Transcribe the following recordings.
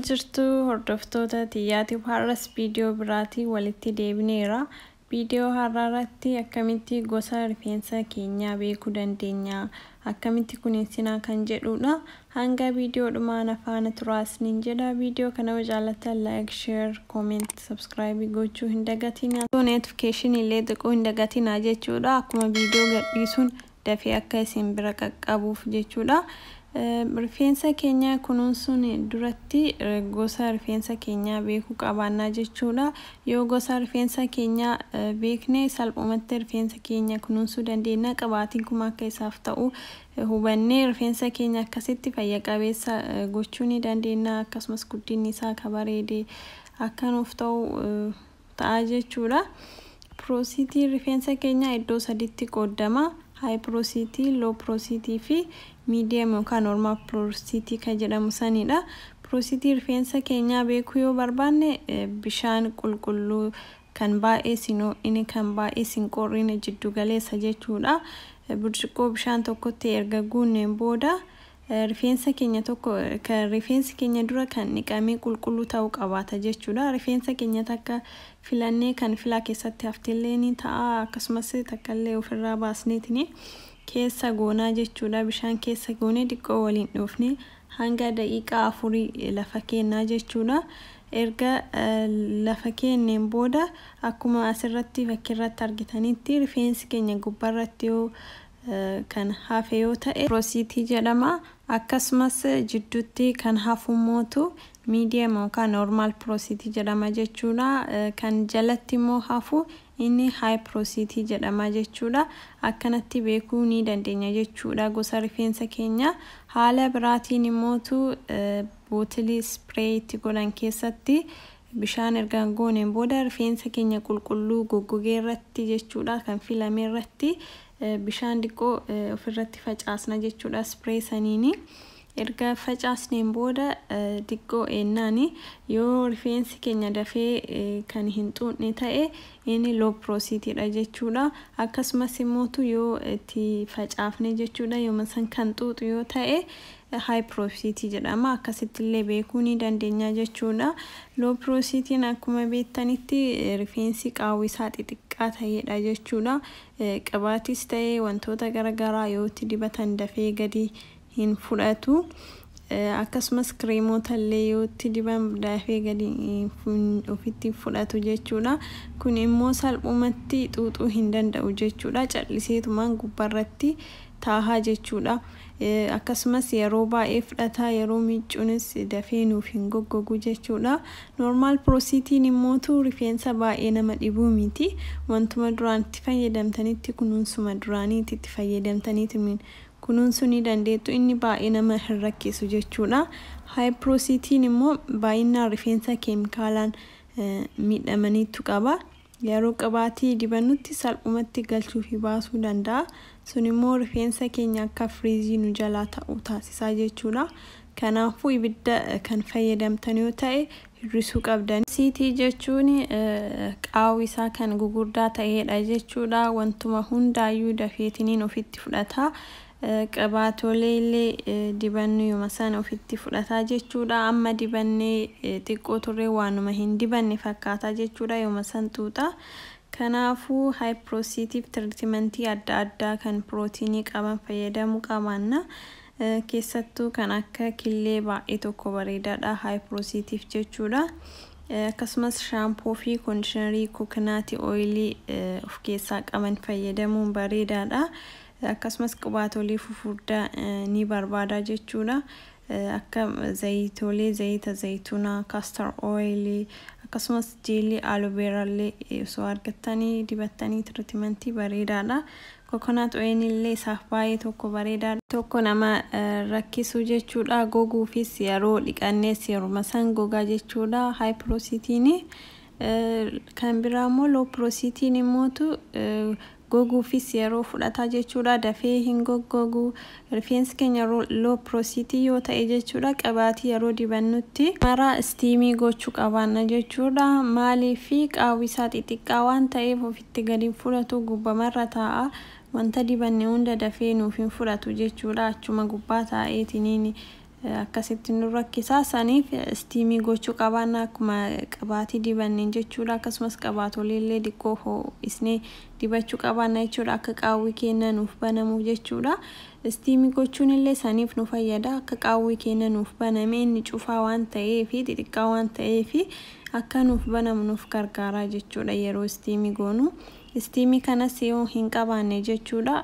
jirtu hordoftoota tiyyaatiif har'as viidiyoo biraatii walitti deebineera viidiyoo har'aa irratti akkamitti gosa rifeensa keenyaa beekuu dandeenya akkamitti kuninsinaa kan jedhuudha hanga viidiyoo dhumaa na faana turaa isiniin jedha viidiyoo kana yoo jaallattan like share comment subscribe gochuu hin dagatinaa notification illee xiquu hin dagatinaa jechuudha akkuma viidiyoo gadhiisuun dafee akka isin bira qaqqabuuf jechuudha. Rifeensa keenya kunuunsuun duratti gosa rifeensa keenyaa beekuu qabaannaa jechuudha. Yoo gosa rifeensa keenyaa beekne salphumatti rifeensa keenya kunuunsuu dandeenya. Qibaatiin kuma akka isaaf ta'u hubannee rifeensa keenya akkasitti fayya qabeessa gochuu ni dandeenya. Akkasumas guddinni isaa akka bareede akka nuuf ta'u ta'a jechuudha. Piroosiitiin rifeensa keenyaa iddoo sadiitti qooddama. Haayi piroosiitii, loo piroosiitii fi miidiyam yookaan noormaal piroosiitii kan jedhamu sanidha. Piroosiitii rifeensa keenyaa beekuu yoo barbaanne bishaan qulqulluu kan baay'ee sin ho'ine kan baay'ee sin qorrine jiddu galeessa jechuudha. Burcuqqoo bishaan tokkotti erga guunneen booda Rifeensa keenya tokko kan rifeensi keenya dura kan dhiqamee qulqulluu ta'uu qabaata jechuudha. Rifeensa keenya takka filannee kan filaa keessatti haftellee ni ta'a. Akkasumas takkallee ofirraa baasneetini keessa goonaa jechuudha. Bishaan keessa goonee diqqoo waliin dhoofne hanga daqiiqaa afurii lafa keennaa jechuudha. Erga lafa keenneen booda akkuma asirratti fakkirratti argitanitti rifeensi keenya gubbarratti yoo kan hafe yoo ta'e rosiitii jedhama. Akkasumas jidduutti kan hafummootu medium yookaan normal procit jedhama jechuudha. Kan jalatti immoo hafu inni high procit jedhama jechuudha. Akkanatti beekuu ni dandeenya jechuudha gosa rifeensa keenyaa. Haala biraatiin immootu bootilii spray itti godhan keessatti Bishaan erga gooneen booda rifeensa keenya qulqulluu goggogee irratti jechuudha kan filame irratti bishaan diqqoo ofirratti facaasna jechuudha spray saniini. Erga facaasneen booda diqqoo eennaani yoo rifeensi keenya dafee kan hin xuuxne ta'e inni low prositidha jechuudha. Akkasumas immootu yoo itti facaafne jechuudha yooma san kan xuuxu yoo ta'e High porosity jedhama. Akkasitti illee beekuu ni dandeenya jechuu dha. Low porosity n akkuma beektanitti rifeensi qaawwi isaa xixiqqaa ta'ee dha jechuu dha. Qibaatis ta'ee wantoota gara garaa yoo itti dibatan dafee gadi hin fudhatu. Akkasumas kireemoota illee yoo itti diban dafee gadi ofitti hin fudhatu jechuu dha. Kun immoo salphumatti xuuxuu hin danda'u jechuu dha. Calliseetumaan gubbarratti taaha jechuudha. Akkasumas yeroo baay'ee fudhata yeroo miiccunis dafee nuuf hin goggogu jechuudha. Normal prositine immootu rifeensa baay'ee nama dhibuu miti. Wantuma duraan itti fayyadamtanitti kunuunsuma duraaniiti itti fayyadamtaniitimiin kunuunsuu ni dandeettu inni baay'ee nama hin rakkisu jechuudha. High prositine immoo baay'innaan rifeensa keemikaalaan miidhamaniittu qaba. Yeroo qibaatii dibannutti salphumatti galchuufi baasuu danda'a. Sunimmoo rifeensa keenya akka firiizii nu jalaa ta'u taasisa jechuudha. Kanaafuu ibidda kan fayyadamtan yoo ta'e hir'isuu qabdani. Siitii jechuun qaawwi isaa kan gugurdaa ta'eedha jechuudha. Wantuma hundaayyuu dafeetiniin ofitti fudhata. Qibaatolee illee dibannuyuma sana ofitti fudhata jechuudha. Amma dibannee xiqqoo turree waanuma hin dibanne fakkaata jechuudha yooma san xuuxa. Kanaafuu haayipiroosiitiif tiritimantii adda addaa kan pirootiinii qaban fayyadamuu qabaanna. Keessattuu kan akka killee baay'ee tokko bareedaadha haayipiroosiitiif jechuudha. Akkasumas shaampoo fi koondishinarii kookinaati ooyilii of keessaa qaban fayyadamuun bareedaadha. Akkasumas qibaatoolee fufurdaa ni barbaada jechuudha. Akka zayitoolee zayita zaytunaa, castor oil, akkasumas jeelii aloe vera illee osoo argattanii dibattanii tiritimantii bareedaadha. Coconut oil illee isaaf baay'ee tokko bareedaadha. tokko nama rakkisu jechuudha. Goguufis yeroo dhiqannees yeruma san gogaa jechuudha. High procitine kan biraa immoo low procitine immootu Goguufis yeroo fudhata jechuudha. Dafee hin goggogu. Rifeensi keenya low porosity yoo ta'e jechuudha qibaatii yeroo dibannutti. Mara istiimii gochuu qabaanna jechuudha. Maaliif? Qaawwi isaa xixiqqaa waan ta'eef ofitti gadi hin fudhatu, gubbamarra taa'a. Wanta dibanne hunda dafee nuuf hin fudhatu jechuudha. Achuma gubbaa taa'eetiniin akkasitti nu rakkisa. Saniif istiimii gochuu qabaanna akkuma qibaatii dibanneen jechuudha. Akkasumas qabaatolee illee diqqoo hoo'isnee dibachuu qabaanna jechuudha. Akka qaawwii keenya nuuf banamuuf jechuudha. Istiimii gochuun illee saniif nu fayyada. Akka qaawwii keenya nuuf baname inni cufaa waan ta'ee fi xixiqqaa waan ta'ee fi akka nuuf banamu nuuf gargaara jechuudha yeroo istiimii goonu. Istiimii kanas yoo hin qabaanne jechuudha.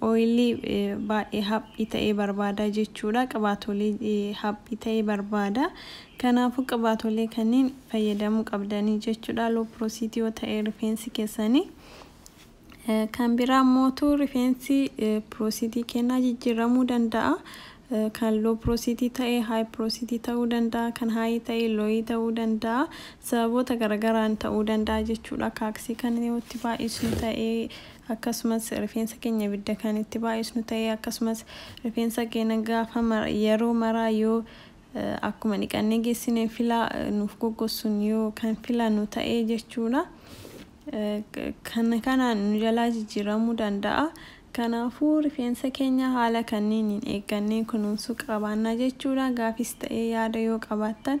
Oilii baay'ee haphii ta'e barbaada jechuudha. Qibaatolee haphii ta'e barbaada. Kanaafuu qibaatolee kanniin fayyadamuu qabdanii jechuudha low porosity yoo ta'e rifeensi keessanii. Kan biraa mootu rifeensi porositii kennaa jijjiiramuu danda'a. Kan low porosity ta'e high porosity ta'uu danda'a. Kan high ta'e low ta'uu danda'a. Sababoota garagaraan ta'uu danda'a jechuudha. Kaaksii kan yoo itti baay'isnu ta'e Akkasumas rifeensa keenya ibidda kan itti baay'isnu ta'ee akkasumas rifeensa keena gaafa mara yeroo maraa yoo akkuma dhiqannee geessine filaa nuuf goggossun yoo kan filanu ta'ee jechuudha kana kanaan nu jalaa jijjiiramuu danda'a kanaafuu rifeensa keenya haala kanniiniin eeggannee kunuunsuu qabaanna jechuudha gaafiis ta'ee yaada yoo qabaattan